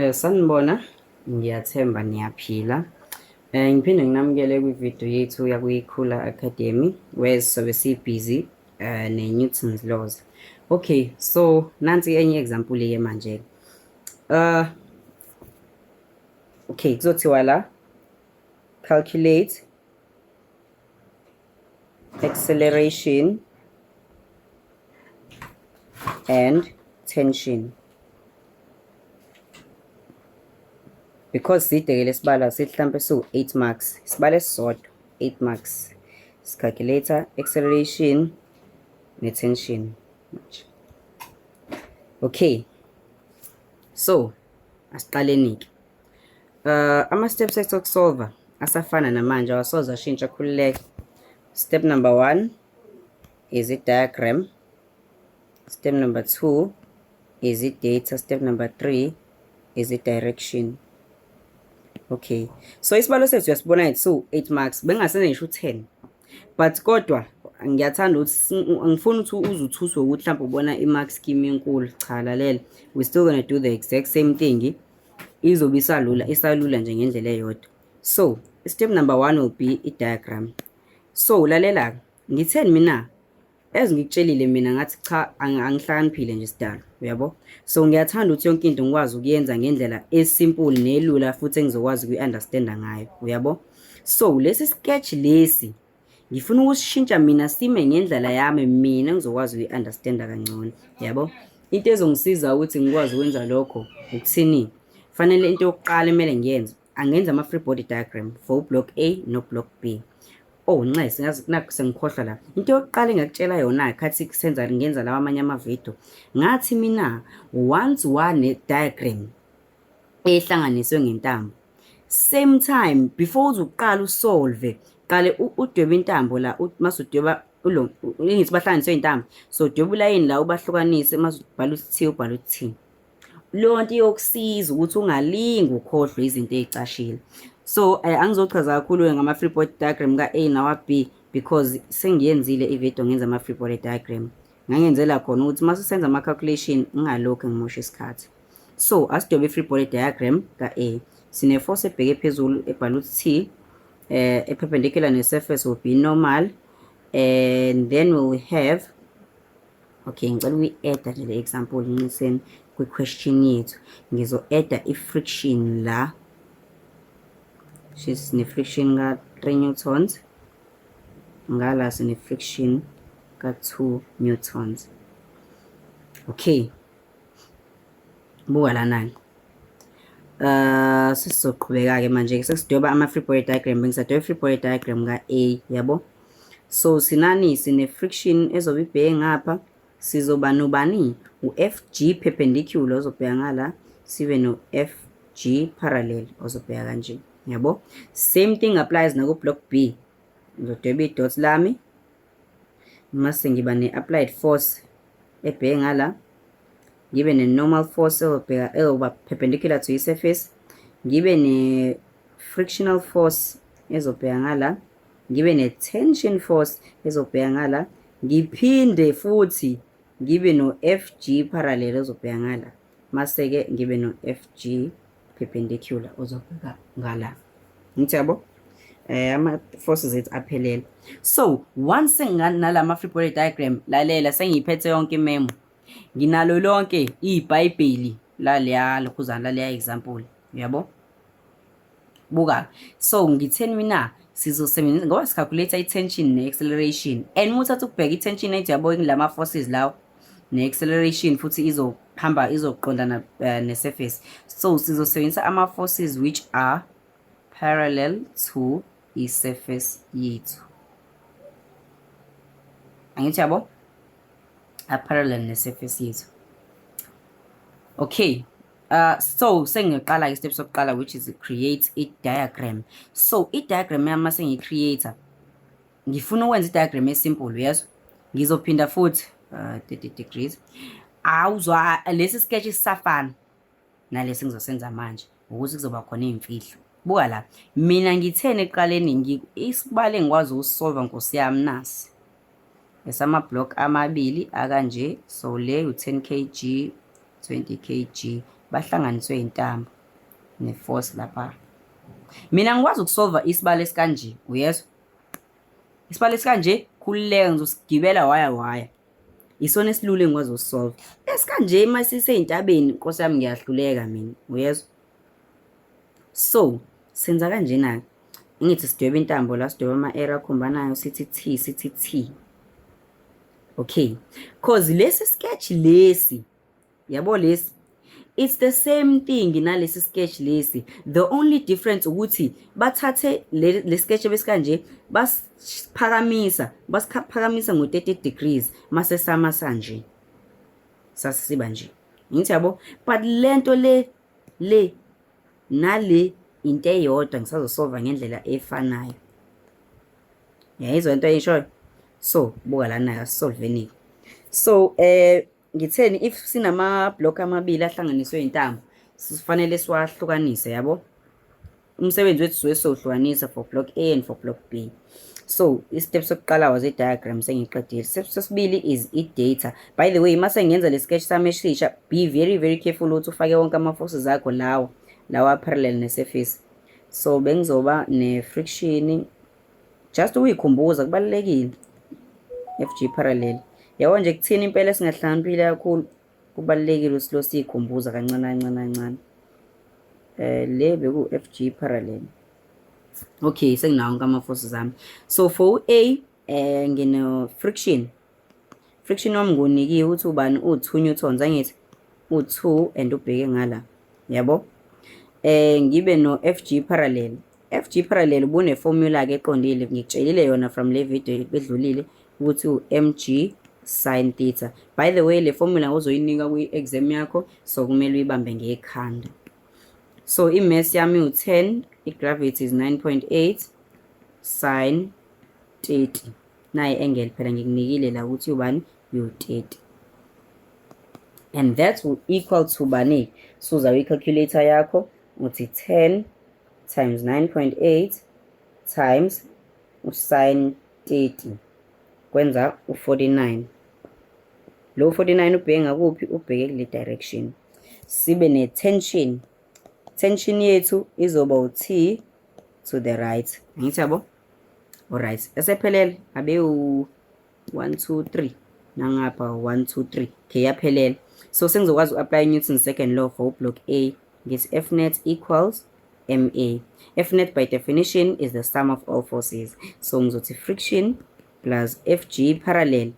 Eh sanibona ngiyathemba niyaphila. Eh ngiphinde nginamukele kwi video yethu yakuyikhula academy where sobe si busy eh ne Newton's laws. Okay so nansi enye example ye manje. Uh okay kuzothiwa la calculate acceleration and tension because side ke lesibalo sithi mhlambe siwu 8 marks isibalo esisodwa 8 marks sicalculator acceleration ne tension manje okay so asiqaleni ke Uh, ama-steps ethu okusolva asafana namanje awasoze ashintsha khululeke step number one is i-diagram step number two is i-data step number three is i-direction okay so isibalo sethu uyasibona ngithi so 8 marks bengingasene ngisho u-10 but kodwa ngiyathanda ukuthi ngifuna ukuthi uze uthuswe ukuthi mhlawumbe ubona i-mark scheme enkulu cha lalela we still gonna do the exact same thing izobe isalula isalula nje ngendlela eyodwa so step number one will be i-diagram so lalela-ke ngitheni mina as ngikutshelile mina ngathi cha angihlakaniphile nje sidalo uyabo so ngiyathanda ukuthi yonke into ngikwazi ukuyenza ngendlela esimple nelula futhi engizokwazi ukuyi-understanda ngayo uyabo so lesi sketch lesi ngifuna ukusishintsha mina sime ngendlela yami mina ngizokwazi ukuyi-understanda kangcono yabo into ezongisiza ukuthi ngikwazi ukwenza lokho ukuthini fanele into yokuqala emele ngiyenze angenza ama-free body diagram for ublock a noblock b oh nxese naku sengikhohlwa la into yokuqala engakutshela yona khathi kusenza ngenza lawa amanye amavidiyo ngathi mina once one diagram ehlanganiswe ngentambo same time before uze uqale usolve qale udweba intambo la mase udweba ulo ngithi bahlanganiswe intambo so udweba ulayini la ubahlukanise mase ubhala ukuthi ubhala ukuthi lonto iyokusiza ukuthi ungalingi ukhohlwe izinto ezicashile so eh, angizochaza kakhulu ngama free body diagram ka A nawa B because sengiyenzile ivideo ngenza ama free body diagram ngangenzela khona ukuthi uma sisenza ama-calculation ngingalokhu ngimosha isikhathi so asidobe i-free body diagram ka-a sine-force ebheke phezulu ebhala ukuthi t um eh, eperpendicular ne-surface will be normal and then we will have okay ngicela ukuyi-eda nje le example nciseni kwi-question yethu ngizo-eda i-friction la she's ne-friction ka-three newtons ngala sine friction ka 2 newtons okay buka lana ke uh sizoqhubeka ke manje ke sesidoba ama free body diagram bengisadoba free body diagram ka A yabo so sinani sine friction ezobe ibheke ngapha Sizoba nobani? U-FG perpendicular ozobheka ngala, sibe no-FG parallel ozobheka kanje. Yabo? Same thing applies naku block B. Ngizodweba i-dot lami. Mase ngiba ne-applied force ebheke ngala. Ngibe ne-normal force ezobheka ezoba perpendicular to i-surface. Ngibe ne-frictional force ezobheka ngala. ngibe ne-tension force ezobheka ngala ngiphinde futhi ngibe no-fg parallel ozobheka ngala mase-ke ngibe no-fg perpendicular ozobheka ngala ngithi yabo eh ama-forces ethu aphelele so once senginganala ma-free body diagram lalela sengiyiphethe yonke imemo nginalo lonke ibhayibheli laleya lokhuzana laleya example uyabo buka so ngitheni mina sizosebenzisa ngoba sicalculate i-tension ne-acceleration and uma uthatha ukubheka i-tension ethi yabo ngilama forces lawo ne-acceleration futhi izohamba izoqondana uh, eh, ne-surface so sizosebenzisa ama-forces which are parallel to i-surface yethu angithi yabo aparallel ne-surface yethu okay Uh, so sengiqala ke step sokuqala which is create a diagram so i diagram yami mase ngi creator ngifuna ukwenza i diagram e simple yes ngizophinda futhi uh, 30 degrees awuzwa lesi sketch isafana nalesi ngizosenza manje ukuthi kuzoba khona izimfihlo buka la mina ngithene eqaleni ngi isibale ngikwazi ukusolve nkosi yami nasi esama block amabili akanje so le u 10 kg 20 kg bahlanganiswe intambo neforce lapha mina ngikwazi ukusolva isibalo esikanje uyezwa isibalo esikanje khululeka ngizosigibela waya waya isona esilula engikwazi ukusolva esikanje uma siseyintabeni nkosi yami ngiyahluleka mina uyezwa so senza kanjena-ke ngithi sidweba intambo la sidweba ama-era akhombanayo sithi t sithi t okay cause lesi sketch lesi yabo lesi it's the same thing nalesi sketch lesi the only difference ukuthi bathathe le, le sketch besikanje basiphakamisa basiphakamisa ngo 30 degrees mase sama sanje sasiba nje ngithi yabo but lento le le nale into eyodwa ngisazosolva ngendlela efanayo yayizwa into eyishoyo so buka lana yasisolvenike so eh ngitheni if sinama block amabili ahlanganiswe intambo sifanele siwahlukanise yabo umsebenzi wethu siwe sohlukanisa for block A and for block B so i-step sokuqala was i-diagram sengiqedile step sesibili is i-data by the way mase ngenza le sketch sami esisha be very very careful ukuthi ufake wonke ama-forces akho lawa lawa parallel ne-surface so bengizoba ne-friction just ukuyikhumbuza kubalulekile fg parallel yabo nje kuthini impela esingahlakaniphile kakhulu Kubalulekile ukuthi lo siyikhumbuza kancane kancane kancane. Eh le beku FG parallel. Okay, senginawo onke ama forces ami. So for A eh ngino friction. Friction wami ngonikiwe ukuthi ubani u2 newtons angithi u2 and ubheke ngala. Yabo? Eh ngibe no FG parallel. FG Parallel ubune-formula-ke eqondile ngikutshelile yona from le video edlulile ukuthi u-mg sin theta by the way le formula uzoyinika kwi-exam yakho so kumele uyibambe ngekhanda so i-mass yami u-10 i-gravity is 9.8 sin 30 naye engel phela ngikunikile la ukuthi ubani u-30 and that will equal to bani so uzawe i-calculator yakho uthi 10 times 9.8 times usin 30 kwenza u-49 lo 49 ubheke ngakuphi ubheke kule direction sibe ne-tension tension yethu izoba u-t to the right angithi yabo alright esephelele abewu 1 2 3 nangapha 1 2 3 okay yaphelela so sengizokwazi uku-apply newton second law for block a ngithi f net equals ma f net by definition is the sum of all forces so ngizothi friction plus fg parallel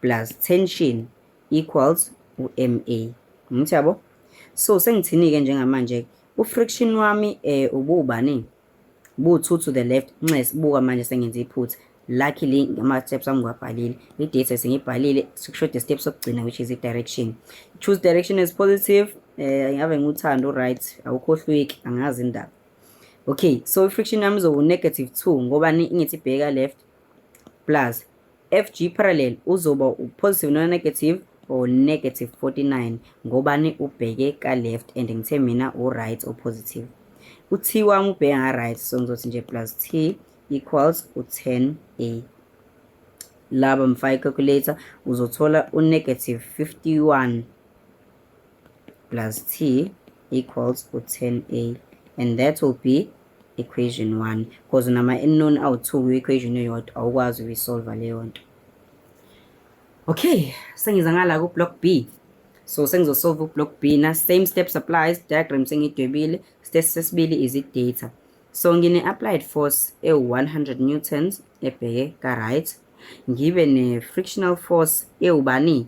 plus tension equals u-ma ngimthi yabo so sengithini-ke njengamanje-ke u-friction wami um eh, ubuwubaningi Bu two to the left. Nxes buka manje sengenze iphutha. Luckily ngama steps ami ngiwabhalile. I date sengibhalile sikushoda step sokugcina which is i direction. Choose direction as positive. Eh ngabe nguthando right awukhohlweki angazi indaba. Okay so i friction yami izowu negative 2 ngoba ngithi bheka left plus FG parallel uzoba u-positive nona-negative or negative 49 ngobani ubheke ka-left and ngithe mina u-right o-positive u-t wami ubheke nga-right so ngizothi nje plus t equals u-10 a laba mfaka i-calculator uzothola u-negative 51 plus t equals to 10a and that will be equation 1 because nama unknown awu-2 kwi-equation eyodwa awukwazi ukuyisolva leyo nto okay sengiza ngala ku-block b so sengizosolve u-block b na same steps applies diagram sengidwebile step sesibili is i-data so ngine-applied force ewu-100 newtons ebheke ka-right ngibe ne-frictional force ewubani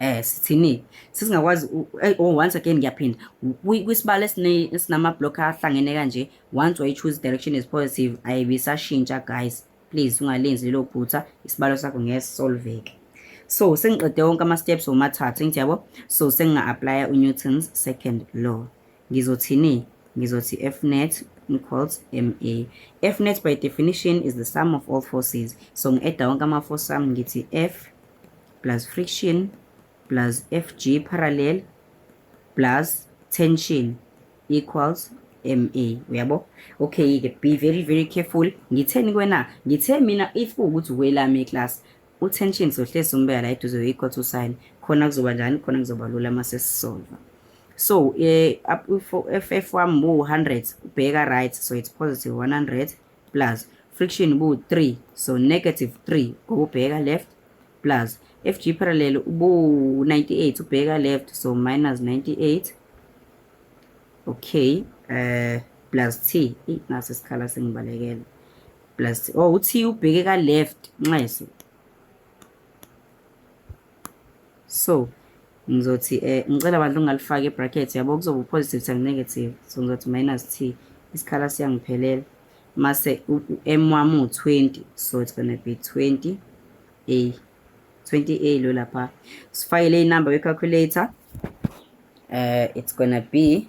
eh sithini sisingakwazi oh once again ngiyaphinda kwisibalo esinama block ahlangene kanje once way choose direction is positive ayibisashintsha guys please ungalenzi lelo phutha isibalo sakho ngeke solveke so sengiqede wonke ama steps womathathu ngiyabo so senginga apply uNewton's second law Ngizothini? Ngizothi F net equals MA. F net by definition is the sum of all forces. So ngi-edda wonke ama-force ami ngithi F plus friction plus FG parallel plus tension equals MA uyabo okay ke be very very careful ngitheni kwena ngithe mina if ukuthi welami class Utension sohlezi umbeka la eduze equal to sign khona kuzoba njani khona kuzoba lula mase sisolva so eh, ff wami bu 100 ubheka right so it's positive 100 plus friction bu 3 so negative 3 ngoba ubheka left plus fg parallel ubu 98 ubheka left so minus 98 okay uh, plus t ngaso isikhala sengibalekela plus oh uthi ubheke ka left nxeso so ngizothi eh ngicela abantu ungalifaki ebracket yabo kuzoba positive times negative so ngizothi minus t isikhala siyangiphelela mase u-m wami u-20 so it's gonna be 20 a 20 a lo lapha sifakele inumber ye-calculator uh, it's gonna be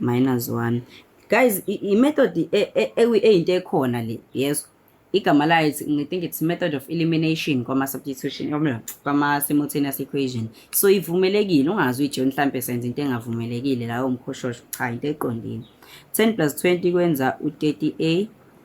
minus 1 guys i-method e, e, e, eyinto ekhona le yeso igama layo i think it's method of elimination kwama-substitution kwama-simultaneous equation so ivumelekile ungazi uyijo mhlampe senza into engavumelekile layo mkhoshosho cha into eqondile 10 plus 20 kwenza u-30a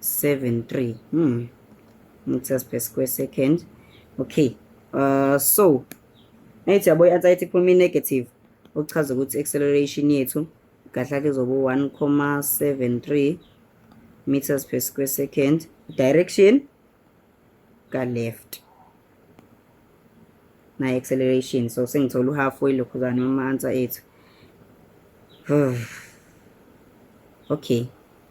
73 hmm meters per square second okay uh so nayithi yabo i-answer yethi kuphuma i-negative okuchaza ukuthi acceleration yethu kahle ke zobo 1,73 meters per square second direction ka left na acceleration so sengithola uhalf way lokho zani ama answer ethu okay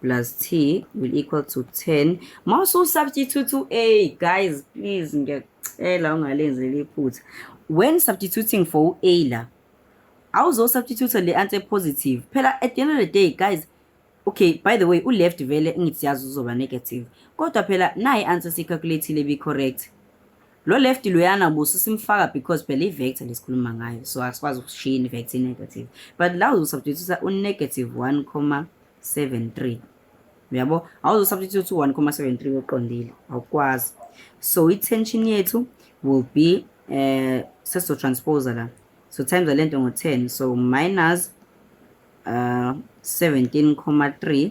plus t will equal to 10 uma ususubstitute u-a guys please ngiyacela ungalenzeli iphutha when substituting for u-a la awuzosubstitute le answer positive phela at the end of the day guys okay by the way u-left vele ngithi yazi uzoba negative kodwa phela nayi answer siyicalculathile be correct Lo left loyana buso simfaka because phela i-vector lesikhuluma ngayo so asikwazi ukushiya i-vector i-negative but la uzosubstitute u-negative 1,73 uyabo awuzosubstitute u-1,73 oqondile awukwazi so i-tension yethu will be um eh, sesizotransposa la so times le nto ngo-10 so minus uh, eh, 17,3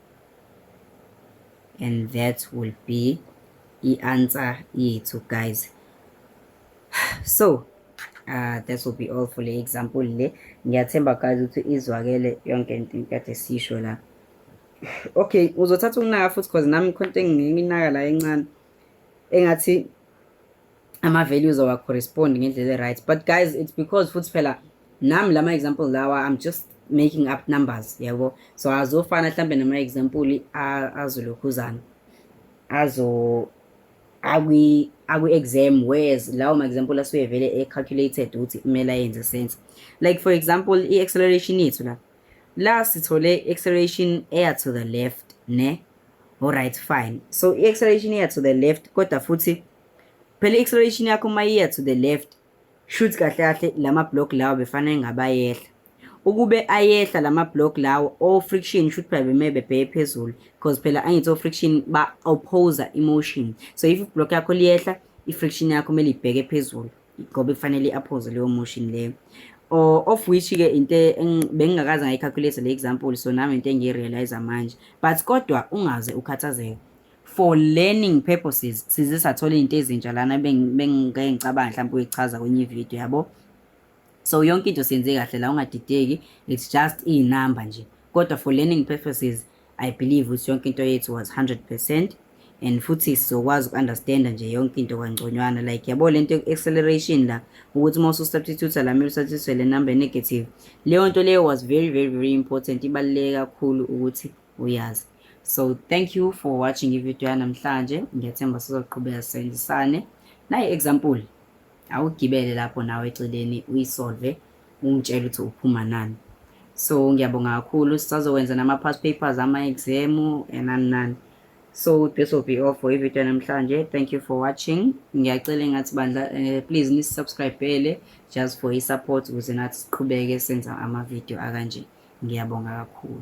and that will be i-answer yethu guys so uh, that will be all for le example le ngiyathemba guys ukuthi izwakele yonke into kade sisho la okay uzothatha ukunaka futhi cause nami khonto enginginaka la encane engathi ama-values awa-correspond ngendlela e-right but guys it's because futhi phela nami lama-example lawa i'm just making up numbers yabo so azofana mhlawumbe nama-example azolokhuzana azo akwi-exam whereas lawo ma-example asuke vele e-calculated ukuthi kumele ayenze sense like for example i-acceleration yethu la La sithole acceleration eya to the left ne alright fine so i acceleration eya to the left kodwa futhi phela i acceleration yakho uma iya to the left shoot kahle kahle lama block lawo befanele ngabayehla ukube ayehla lama block lawo o friction shoot phela bemebe bhe phezulu because phela angithi o friction ba oppose emotion so if block yakho liyehla i friction yakho mele ibheke phezulu ngoba kufanele i-aphoze leyo motion leyo or of which ke into bengingakaze ngayicalculate le example so nami into engiyirealize manje but kodwa ungaze ukhathazeke for learning purposes size sathola izinto ezintsha lana bengike ngicabanga mhlawumbe uyichaza kwenye ivideo yabo so yonke into siyenze kahle la ungadideki it's just iy'namba nje kodwa for learning purposes I believe ukuthi yonke into yethu was 100% and futhi sizokwazi uku-understanda nje yonke into kwangconywana like yabo le nto acceleration la ukuthi uma ususubstitute la mele usubstitute le number negative leyo nto leyo was very very very important ibaluleke kakhulu ukuthi uyazi so thank you for watching ivideo yanamhlanje ngiyathemba sizoqhubeka sisebenzisane nayi example awugibele lapho nawe eceleni uyisolve umtshele ukuthi uphuma nani so ngiyabonga kakhulu sisazokwenza nama-past papers ama-exam enani nani so this will be all for ivideo namhlanje thank you for watching ngiyacela engathi bandla uh, please nisubscribele just for i-support ukuze nathi siqhubeke senza amavidiyo akanje ngiyabonga kakhulu